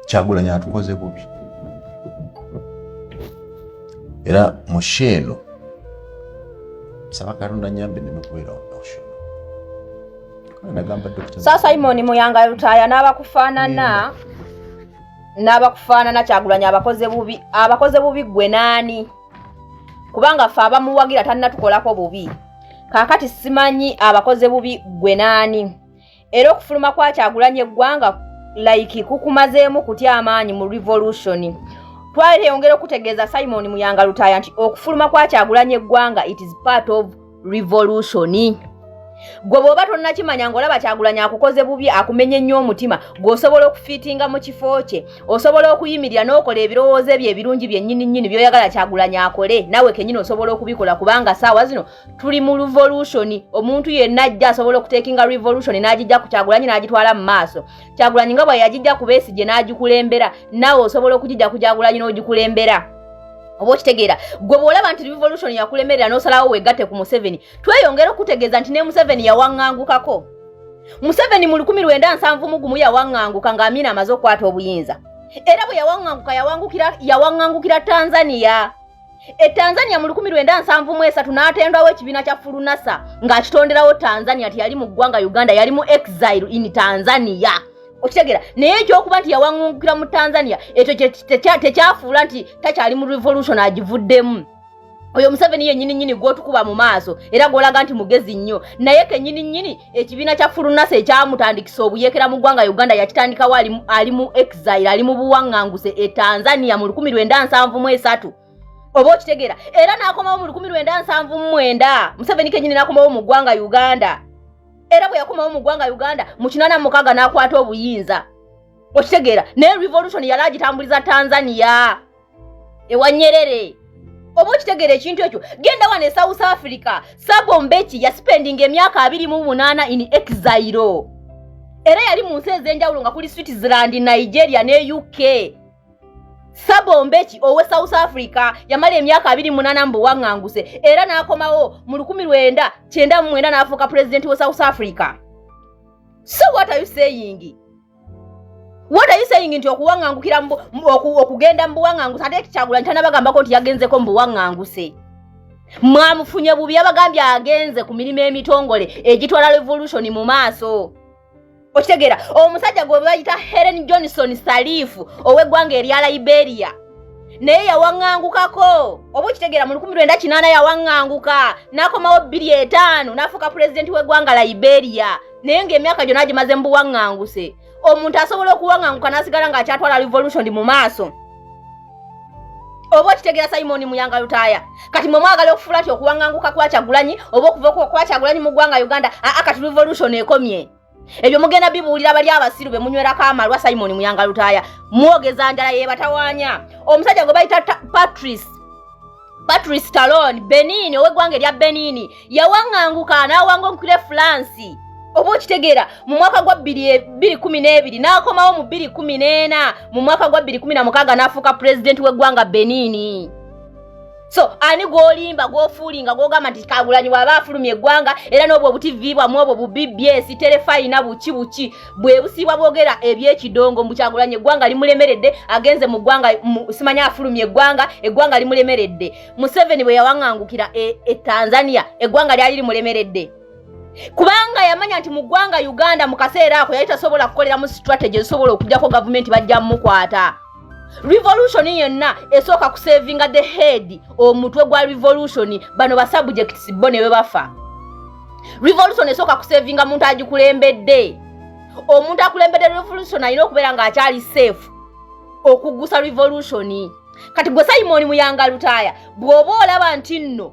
kyagulanyi atukoze bubi era musheeno saba katonda nyambe nemekubeera omusheeno sasa imoni muyanga lutaya n'abakufaanana n'abakufaanana kyagulanyi abakoze bubi abakoze bubi gwe naani kubanga fe abamuwagira tanatukolako bubi kakati simanyi abakoze bubi gwe naani era okufuluma kwa kyagulanye eggwanga like kukumazeemu kutya amaanyi mu revolution twali teyongera okutegeeza simon muyanga lutaaya nti okufuluma kwa kyagulanye eggwanga it is part of revolution gwe bw'oba tonnakimanya ng'olaba kyagulanya akukoze bubi akumenya ennyo omutima gweosobola okufiitinga mu kifo kye osobola okuyimirira n'okola ebirowoozo ebyo ebirungi byennyini nnyini by'oyagala kyagulanya akole nawe kennyini osobola okubikola kubanga saawa zino tuli mu revolution omuntu yenna ajja asobola okutekinga revolution n'agijja ku kyagulanyi n'agitwala mu maaso kyagulanyi nga bwe yagijja ku besigye n'agikulembera naawe osobola okugijja ku kyagulanyi n'ogikulembera oba okitegeera gwe bw'olaba nti revolution yakulemerera n'osalawo weegatte ku museveni tweyongera okutegeeza nti ne museveni yawaŋŋangukako museveni mu lukumi lwenda nsanvu mu gumu yawaŋŋanguka ng'amiina amaze okukwata obuyinza era bwe yawaŋŋanguka yawaŋŋangukira tanzania e tanzania mu lukumi lwenda nsanvu mu esatu n'atendwawo ekibiina kya fulunasa ng'akitonderawo tanzania nti yali mu ggwanga uganda yali mu exile in tanzania okitegeera naye ekyokuba nti yawaŋungukira mu tanzania ekyo tekyafuula nti takyali mu revolution agivuddemu oyo museveni yenyini nyini gwotukuba mu maaso era gwolaga nti mugezi nnyo naye kenyini nyini ekibiina kya fulunasa ekyamutandikisa obuyekera mu ggwanga uganda yakitandikawo ali mu exile ali mu buwaŋŋanguse e tanzania mu 1973 oba okitegeera era n'akomawo mu 1979 museveni kenyini n'akomawo mu ggwanga uganda era bwe yakomawo mu ggwanga uganda mu 86 n'akwata obuyinza okitegeera naye revolution yali agitambuliza tanzania ewa nyerere oba okitegeera ekintu ekyo genda wano e south africa sabo mbeki yasipendinga emyaka abiri mu munaana in exairo era yali mu nsi ez'enjawulo nga kuli switzerland nigeria ne uk sabo mbeki owe south africa yamala emyaka abiri munaana mu buwaŋŋanguse era n'akomawo mu lukumi lwenda kyenda mu mwenda n'afuuka pulezidenti we south africa so what are you saying What are you saying nti okuwangangukira okugenda mu buwanganguse ate Kyagulanyi tanabagambako nti yagenzeko mu buwanganguse mwamufunye bubi abagambye agenze ku mirimu emitongole egitwala revolution mu maaso okitegeera omusajja gwe bayita Helen Johnson Salif ow'eggwanga erya Liberia naye yawaŋŋangukako oba okitegeera mu lukumi lwenda kinaana yawaŋŋanguka n'akomawo bbiri etaano n'afuuka pulezidenti w'eggwanga Liberia naye ng'emyaka gyona agimaze mu buwaŋŋanguse omuntu asobola okuwaŋŋanguka n'asigala ng'akyatwala revolution mu maaso oba okitegeera simoni muyanga lutaaya kati mwe mwagala okufuula ti okuwaŋŋanguka kwakyagulanyi oba okuva kwakyagulanyi mu ggwanga uganda aa kati revolution ekomye ebyo mugenda bibuulira bali abasiru be munywerako amalwa simoni muyanga lutaaya mwogeza njala yebatawanya omusajja gwe bayita patrice Patrice Talon Benini ow'eggwanga erya Benini yawaŋŋanguka n'awanga omukulu e Fulansi oba okitegeera mu mwaka gwa bbiri kumi n'ebiri n'akomawo mu bbiri kumi n'ena mu mwaka gwa bbiri kumi na mukaaga n'afuuka pulezidenti w'eggwanga Benini so ani gwolimba gwofuulinga gwogamba nti kagulanyi waaba afulumya eggwanga era n'obwo obutivi bwamwe obwo bubibs terefayina buki buki bwebusiibwa bwogera ebyekidongo mbukyagulanye eggwanga limulemeredde agenze mu ggwanga simanya afulumye eggwanga eggwanga limulemeredde museveni bwe yawangangukira e, e tanzania eggwanga lyali limulemeredde kubanga yamanya nti mu ggwanga uganda mu kaseera ako yali tasobola kukoleramu strategy ezisobola okujjako gavumenti bajja mukwata revolution yenna esooka kusevinga the head omutwe gwa revolution bano ba subjects bo ne bwe bafa revolution esooka kusevinga muntu agikulembedde omuntu akulembedde revolution alina okubeera ng'akyali safe okugusa revolution kati gwe simoni muyanga lutaaya bw'oba olaba nti nno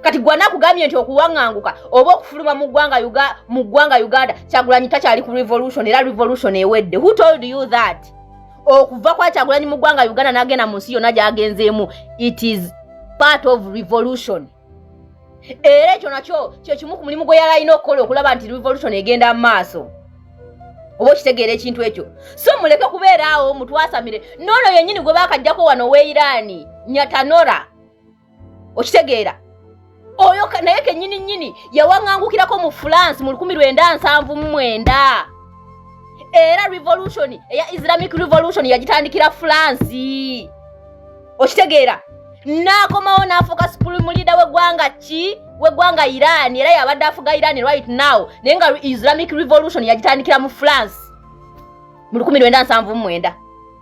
kati gwana kugambye nti okuwanganguka oba okufuluma mu ggwanga mu ggwanga uganda kyagulanyi takyali ku revolution era revolution ewedde who told you that okuva kwa kyagulanyi mu ggwanga uganda nagenda mu nsi yonna gyagenzeemu it is part of revolution era ekyo nakyo kyekimu ku mulimu gwe yali alina okukola okulaba nti revolution egenda mu maaso oba okitegeera ekintu ekyo so muleke kubeeraawo mutwasamire noono yennyini gwe baakajjako wano weiraani nyatanora okitegeera oyo naye kenyini nyini yawaŋangukirako mu france mu lukumi lwenda nsanvu mu mwenda era revolution eya islamic revolution yagitandikira france okitegeera n'akomawo n'afuuka supreme leader w'eggwanga ki w'eggwanga iran era yabadde afuga iran right now naye nga islamic revolution yagitandikira mu france mu lukumi lwenda nsanvu mu mwenda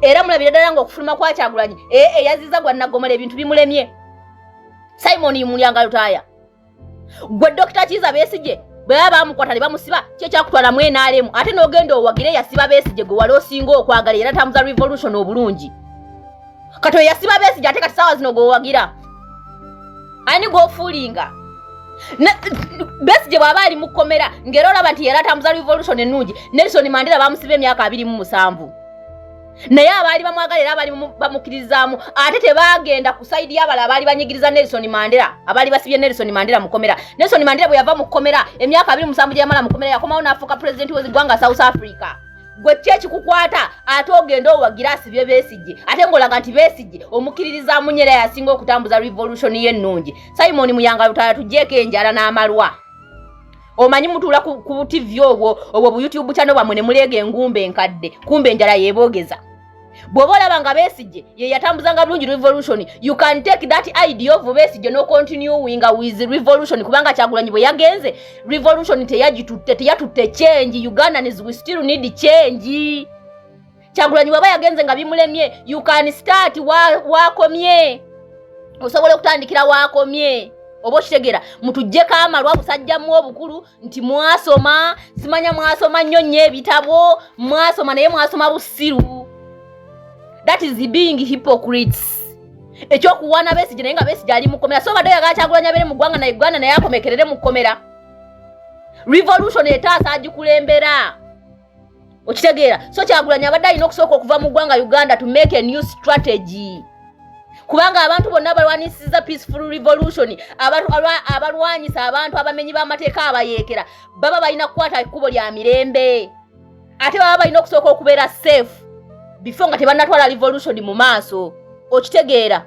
era mulabire ddala ngaokufuluma kwakyagulanyi ee eh, eyaziza gwa naggomola ebintu bimulemye simon yimulyanga lutaaya gwe dokita kiiza besigye bwe baba bamukwata ne bamusiba kyekyakutwala mu nrm ate n'ogenda owagire yasiba besigye gwe wali osinga okwagala era tambuza revolution obulungi kati oyo yasiba besigye ate kati saawa zino gweowagira ani gwofuulinga besigye bw'aba ali mu kkomera ng'era olaba nti yeratambuza revolution ennungi nelson mandera bamusiba emyaka abiri mu musanvu naye abaali bamwagala era abaali bamukiririzaamu ate tebaagenda ku saidi y'abala abaali banyigiriza nelson mandera abaali basibye nelson mandera mukomera nelson mandera bwe yava mu kkomera emyaka abiri musanvu gye yamala mukomera yakomawo n'afuuka pulezidenti wezigwanga south africa gwe ki ekikukwata ate ogenda owagira asibye besigye ate ngaolaga nti besigye omukiririza munyera yasinga okutambuza revolution ye ennungi simon muyanga lutala tujjeeko enjala n'amalwa omanyi mutuula ku butv obwo obwo bu youtube channel bwamwe ne muleega engumba enkadde kumba enjala yeeboogeza bw'oba olaba nga besigye ye yatambuzanga bulungi revolution you can take that idea of besigye no continuing with revolution kubanga kyagulanyi bwe yagenze revolution teyagitutte teyatutte change ugandans we still need change kyagulanyi bwaba yagenze nga bimulemye you can start wakomye wa osobola okutandikira wakomye oba okitegera mutujjeko amalwa busajjamu obukulu nti mwasoma simanya mwasoma nnyo nnyo ebitabo mwasoma naye mwasoma busiru that is being hypocrites ekyokuwaana besigye naye nga besigye ali mukomera so badde oyagala kyagulanya bere mu ggwanga na uganda naye akomekerere mu kkomera revolution etaasa agikulembera okitegeera so kyagulanyi abadde alina okusooka okuva mu ggwanga uganda to make a new strategy kubanga abantu bonna abalwanyisiza peaceful revolution abalwanyisa abantu abamenyi b'amateeka abayeekera baba balina kukwata ekkubo lya mirembe ate baba balina okusooka okubeera safe before nga tebanatwala revolution mu maaso okitegeera